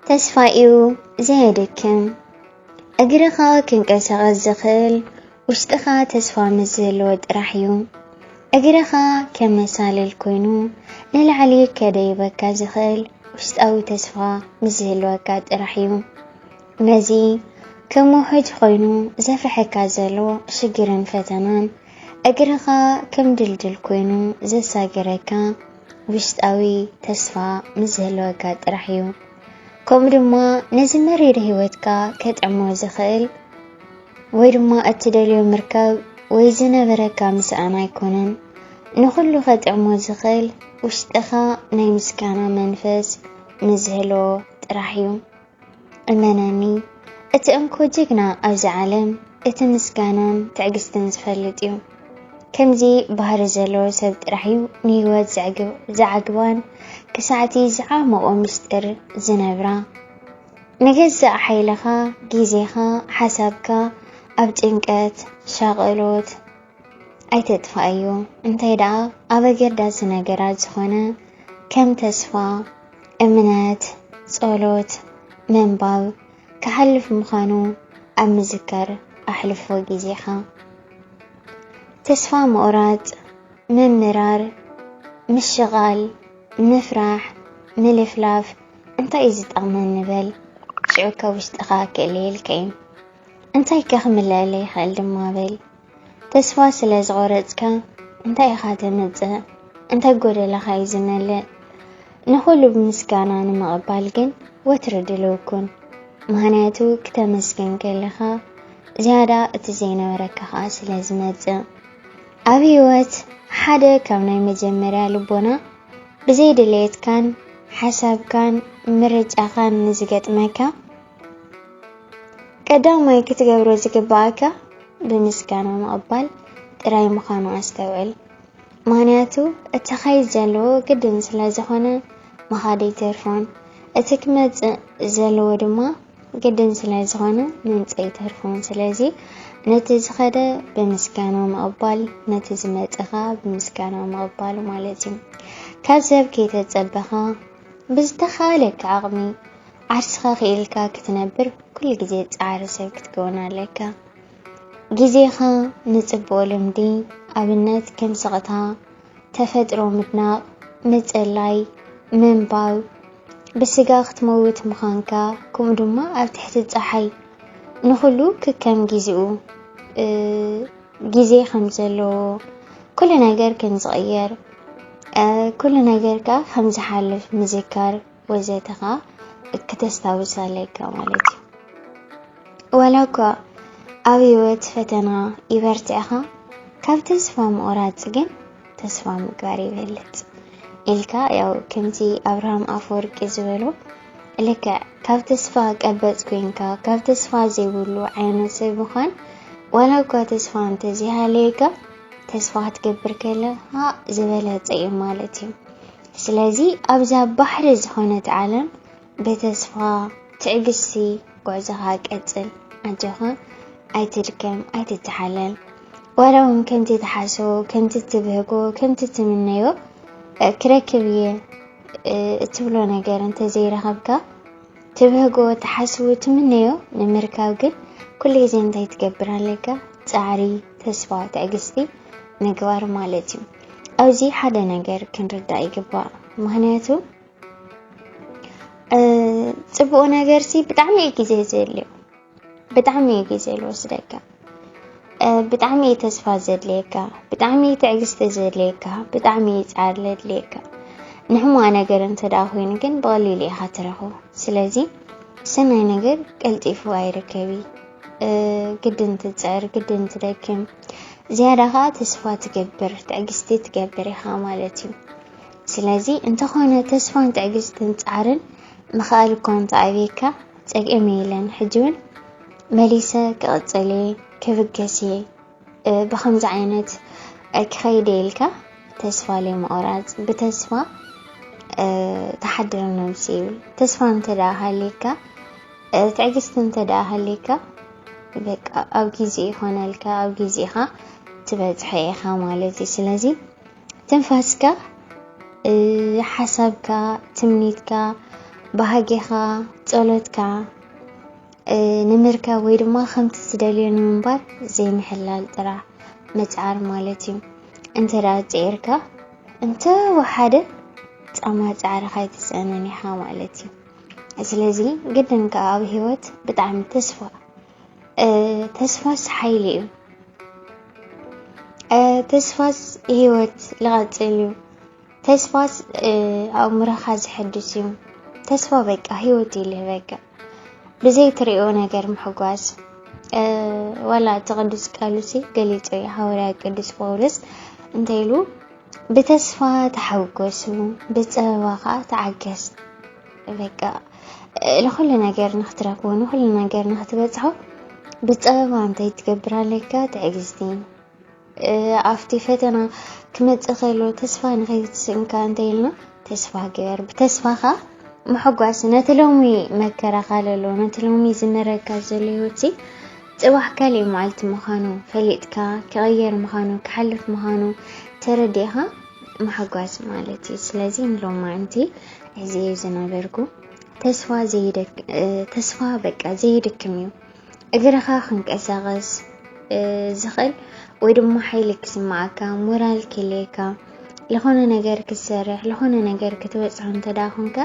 ተስፋ'ዩ ዘየድክም፣ እግርኻ ክንቀሳቐስ ዝኽእል ውሽጥኻ ተስፋ ምስ ዝህልዎ ጥራሕ'ዩ። እግርኻ ከም መሳልል ኮይኑ ንላዕሊ ከደይበካ ዝኽእል ውሽጣዊ ተስፋ ምስ ዝህልወካ ጥራሕ'ዩ። ነዚ ከም ውሑጅ ኮይኑ ዘፍርሐካ ዘሎ ሽግርን ፈተናን እግርኻ ከም ድልድል ኮይኑ ዘሳግረካ ውሽጣዊ ተስፋ ምስ ዝህልወካ ጥራሕ እዩ ከምኡ ድማ ነዚ መሪር ህይወትካ ከጥዕሞ ዝኽእል ወይ ድማ እትደልዮ ምርካብ ወይ ዝነበረካ ምስኣን ኣይኮነን ንኹሉ ከጥዕሞ ዝኽእል ውሽጥኻ ናይ ምስጋና መንፈስ ምስ ዝህልዎ ጥራሕ እዩ እመነኒ እቲ እንኮ ጅግና ኣብዚ ዓለም እቲ ምስጋናን ትዕግስትን ዝፈልጥ እዩ። ከምዚ ባህሪ ዘለዎ ሰብ ጥራሕ እዩ ንህይወት ዝዓግባን ክሳዕቲ ዝዓመቑ ምስጢር ዝነብራ። ንገዛእ ሓይልኻ፣ ግዜኻ፣ ሓሳብካ ኣብ ጭንቀት፣ ሻቐሎት፣ ኣይተጥፋኣዮ እንታይ ደኣ ኣብ ኣገዳሲ ነገራት ዝኾነ ከም ተስፋ እምነት ጸሎት ምንባብ ክሓልፍ ምዃኑ ኣብ ምዝካር ኣሕልፎ ግዜኻ ተስፋ ምቑራጽ ምምራር ምሽቓል ምፍራሕ ምልፍላፍ እንታይ እዩ ዝጠቕመን ንበል ሽዑ ካብ ውሽጥኻ ክእለየልካ እዩ እንታይከ ክምለኣለ ይኽእል ድማ በል ተስፋ ስለ ዝቖረጽካ እንታይ ኢኻ ተምጽእ? እንተ ጎደለኻ እዩ ዝመልእ። ንኹሉ ብምስጋና ንምቕባል ግን ወትሩ ድልው ኩን። ምኽንያቱ ክተመስግን ከለኻ ዝያዳ እቲ ዘይነበረካ ኸኣ ስለ ዝመጽእ። ኣብ ህይወት ሓደ ካብ ናይ መጀመርያ ልቦና ብዘይ ድሌትካን ሓሳብካን ምርጫኻን ንዝገጥመካ ቀዳማይ ክትገብሮ ዝግባኣካ ብምስጋና ምቕባል ጥራይ ምዃኑ ኣስተውዕል። ምኽንያቱ እቲ ኸይድ ዘለዎ ግድን ስለ ዝኾነ ምኻድ ኣይተርፎን፣ እቲ ክመጽእ ዘለዎ ድማ ግድን ስለ ዝኾነ ምምጽእ ኣይተርፎን። ስለዚ ነቲ ዝኸደ ብምስጋና ምቕባል፣ ነቲ ዝመጸኻ ብምስጋና ምቕባል ማለት እዩ። ካብ ሰብ ከይተጸበኻ ብዝተኻእለካ ዓቕሚ ዓርስኻ ክኢልካ ክትነብር ኩሉ ግዜ ጻዕሪ ሰብ ክትከውን ኣለካ። ግዜኻ ንጽቡቕ ልምዲ፣ ኣብነት ከም ስቕታ፣ ተፈጥሮ ምድናቕ፣ ምጽላይ፣ ምንባብ፣ ብስጋ ክትመውት ምዃንካ፣ ከምኡ ድማ ኣብ ትሕቲ ጸሓይ ንኹሉ ክከም ግዜኡ ግዜ ከም ዘለዎ ኩሉ ነገር ከም ዝቕየር ኩሉ ነገር ከኣ ከም ዝሓልፍ ምዝካር ወዘተ ከኣ ክተስታውስ ኣለካ ማለት እዩ ዋላ እኳ ኣብ ህይወት ፈተና ይበርትዕኻ ካብ ተስፋ ምቑራጽ ግን ተስፋ ምግባር ይበልጽ ኢልካ ያው ከምቲ ኣብርሃም ኣፈወርቂ ዝበሎ ልክዕ ካብ ተስፋ ቀበጽ ኮይንካ ካብ ተስፋ ዘይብሉ ዓይነት ሰብ ምዃን ዋላ እኳ ተስፋ እንተዘይሃለየካ ተስፋ ክትገብር ከለኻ ዝበለጸ እዩ ማለት እዩ። ስለዚ ኣብዛ ባሕሪ ዝኾነት ዓለም ብተስፋ ትዕግስቲ ጉዕዞኻ ቀጽል ኣጆኻ ኣይትድከም ኣይትተሓለል ዋላ እውን ከምቲ ትሓስቦ ከምቲ ትብህጎ ከምቲ ትምነዮ ክረክብ እየ እትብሎ ነገር እንተዘይረኸብካ ትብህጎ ትሓስቡ ትምነዮ ንምርካብ ግን ኩሉ ግዜ እንታይ ትገብር ኣለካ ፃዕሪ ተስፋ ትዕግስቲ ምግባር ማለት እዩ ኣብዚ ሓደ ነገር ክንርዳእ ይግባእ ምክንያቱ ፅቡቅ ነገር ሲ ብጣዕሚ እዩ ግዜ ዘድልዮ ብጣዕሚ እዩ ግዜ ዝወስደካ ብጣዕሚ እዩ ተስፋ ዘድልየካ ብጣዕሚ እዩ ትዕግስቲ ዘድልየካ ብጣዕሚ እዩ ፃዕሪ ዘድልየካ ንሕሙዋ ነገር እንተደኣ ኮይኑ ግን ብቐሊሉ ኢኻ ትረኽቦ ስለዚ ሰናይ ነገር ቀልጢፉ ኣይርከቢ ግድን ትፅዕር ግድን ትደክም ዝያዳ ከዓ ተስፋ ትገብር ትዕግስቲ ትገብር ኢኻ ማለት እዩ ስለዚ እንተኾነ ተስፋን ትዕግስትን ጻዕርን ምኽኣል እኳ እንተ ኣብየካ ጸግዒም የለን ሕጂ ውን መሊሰ ክቕጽል እየ ክብገስ እየ ብኸምዚ ዓይነት ክኸይድ እየ ኢልካ ተስፋ ዘይምቑራጽ ብተስፋ ተሓድር ነብሲ ይብል ተስፋ እንተ ደኣ ሃልየካ ትዕግስቲ እንተ ደኣ ሃልየካ በቃ ኣብ ግዜ ይኾነልካ ኣብ ግዜኻ ትበጽሖ ኢኻ ማለት እዩ ስለዚ ትንፋስካ፣ ሓሳብካ፣ ትምኒትካ፣ ባህጌኻ፣ ጸሎትካ ንምርካብ ወይ ድማ ከምቲ ትደልዮ ንምንባር ዘይምሕላል ጥራሕ ምጽዓር ማለት እዩ። እንተ ደኣ ጽዒርካ እንተ ወሓደ ጻማ ጻዕርኻ ኣይትስእንን ኢኻ ማለት እዩ። ስለዚ ግድን ከኣ ኣብ ህይወት ብጣዕሚ ተስፋ ተስፋስ ሓይሊ እዩ። ተስፋስ ህይወት ልቐፅል እዩ። ተስፋስ ኣእምሮኻ ዝሕድስ እዩ። ተስፋ በቃ ህይወት ይልህ በቃ ብዘይ ትሪኦ ነገር ምሕጓስ ዋላ እቲ ቅዱስ ቃሉሲ ገሊፆ እዩ ሃዋርያ ቅዱስ ጳውሎስ እንታይ ኢሉ ብተስፋ ተሓጎሱ ብፀበባ ከዓ ተዓገስ በቃ ንኩሉ ነገር ንክትረክቦ ንኩሉ ነገር ንክትበፅሖ ብፀበባ እንታይ ትገብር ኣለካ ትዕግስቲ ኣብቲ ፈተና ክመፅእ ከሎ ተስፋ ንከይትስእንካ እንታይ ኢልና ተስፋ ግበር ብተስፋኻ ምሕጓስ ነቲ ሎሚ መከራኻ ለሎ ነቲ ሎሚ ዝመረካ ዘሎ ህይወት ፅባሕ ካልእ መዓልቲ ምዃኑ ፈሊጥካ ክቐየር ምዃኑ ክሓልፍ ምዃኑ ተረዲእኻ ምሕጓስ ማለት እዩ ስለዚ ንሎማንቲ እዚ እዩ ዝነበርኩ ተስፋ ተስፋ በቃ ዘይድክም እዩ እግርኻ ክንቀሳቐስ ዝኽእል ወይ ድማ ሓይሊ ክስማዓካ ሞራል ክልየካ ዝኾነ ነገር ክትሰርሕ ዝኾነ ነገር ክትበፅሖ እንተዳ ኮንካ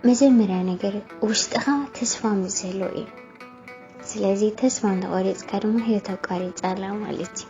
መጀመርያ ነገር ውሽጥኻ ተስፋ ምስ ዘሎ እዩ ስለዚ ተስፋ እንተቆሪፅካ ድማ ህይወት ኣቋሪፃ ኣላ ማለት እዩ